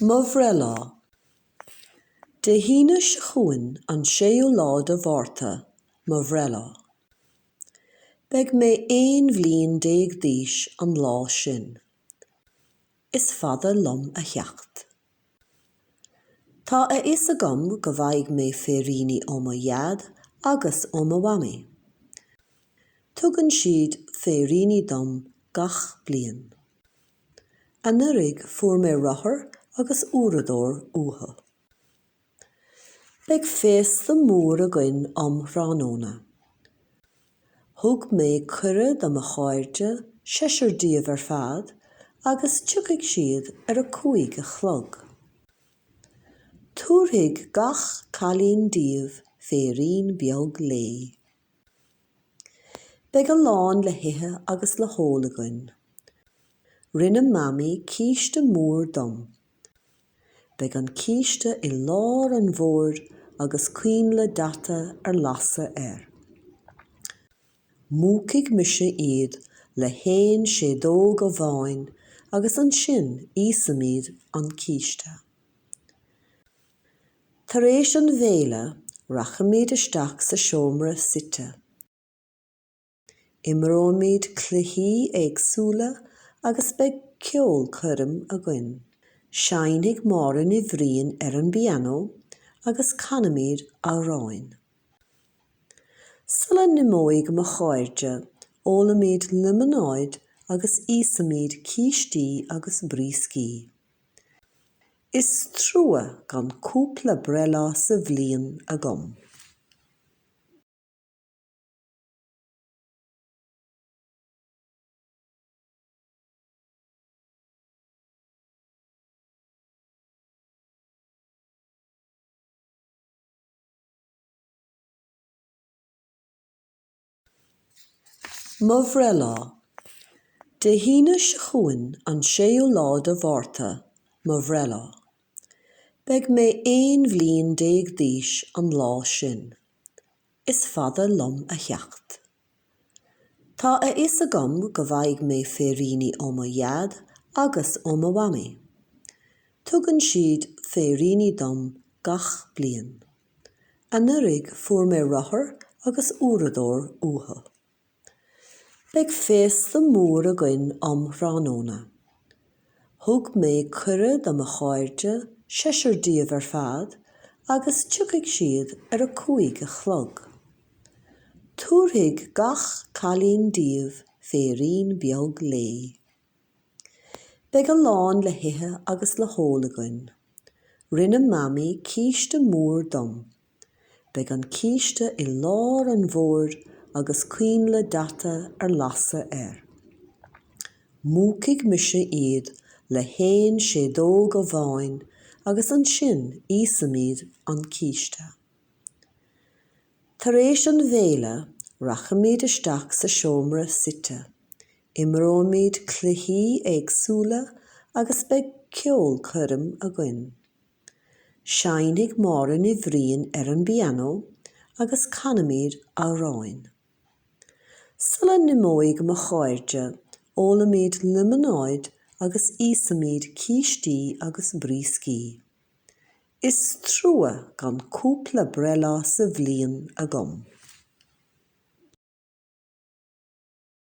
Mo bhreithlá. Dé hAoine seo chugainn, an 6ú lá de Mhárta, mo bhreithlá. Beidh mé aon bhliain déag d'aois an lá sin. Is fada liom a theacht. Tá a fhios agam go bhfaighidh mé féiríní ó mo Dhaid agus ó mo Mhamaí. Tugann siad féiríní dom gach bliain. Anuraidh fuair mé rothar agus uaireadóir uathu. Beidh féasta mór againn um thráthnóna. Thug mé cuireadh do mo chairde, seisear díobh ar fad, agus tiocfaidh siad ar a cúig a chlog. Tabharfaidh gach cailín díobh féirín beag léi. Beidh a lán le hithe agus le hól againn. Rinne Mamaí císte mór dom. Beidh an císte i lár an bhoird agus coinnle daite ar lasadh air. Múchfaidh mise iad le haon séideog amháin agus ansin íosfaimid an císte. Tar éis an bhéile rachaimid isteach sa seomra suite. Imreoimid cluichí éagsúla agus beidh ceolchoirm againn. Seinnfidh Máire Ní Bhriain ar an bpianó agus canfaimid amhráin. Sula n-imeoidh mo chairde, ólfaimid liomanáid agus íosfaimid cístí agus brioscaí. Is trua gan cúpla breithlá sa bhliain agam. Mo bhreithlá. Dé hAoine seo chugainn, an 6ú lá de Mhárta, mo bhreithlá. Beidh mé aon bhliain déag d'aois an lá sin. Is fada liom a theacht. Tá a fhios agam go bhfaighidh mé féiríní ó mo Dhaid agus ó mo Mhamaí. Tugann siad féiríní dom gach bliain. Anuraidh fuair mé rothar agus uaireadóir uathu. Beidh féasta mór againn um thráthnóna. Thug mé cuireadh do mo chairde, seisear díobh ar fad, agus tiocfaidh siad ar a cúig a chlog. Tabharfaidh gach cailín díobh féirín beag léi. Beidh a lán le hithe agus le hól againn. Rinne Mamaí císte mór dom. Beidh an císte i lár an bhoird agus coinnle daite ar lasadh air. Múchfaidh mise iad le haon séideog amháin agus ansin íosfaimid an císte. Tar éis an bhéile rachaimid isteach sa seomra suite, Imreoimid cluichí éagsúla agus beidh ceolchoirm againn. Seinnfidh Máire Ní Bhriain ar an bpianó agus canfaimid amhráin. Sula n-imeoidh mo chairde, ólfaimid líomanáid agus íosfaimid cístí agus brioscaí. Is trua gan cúpla breithlá sa bhliain agam.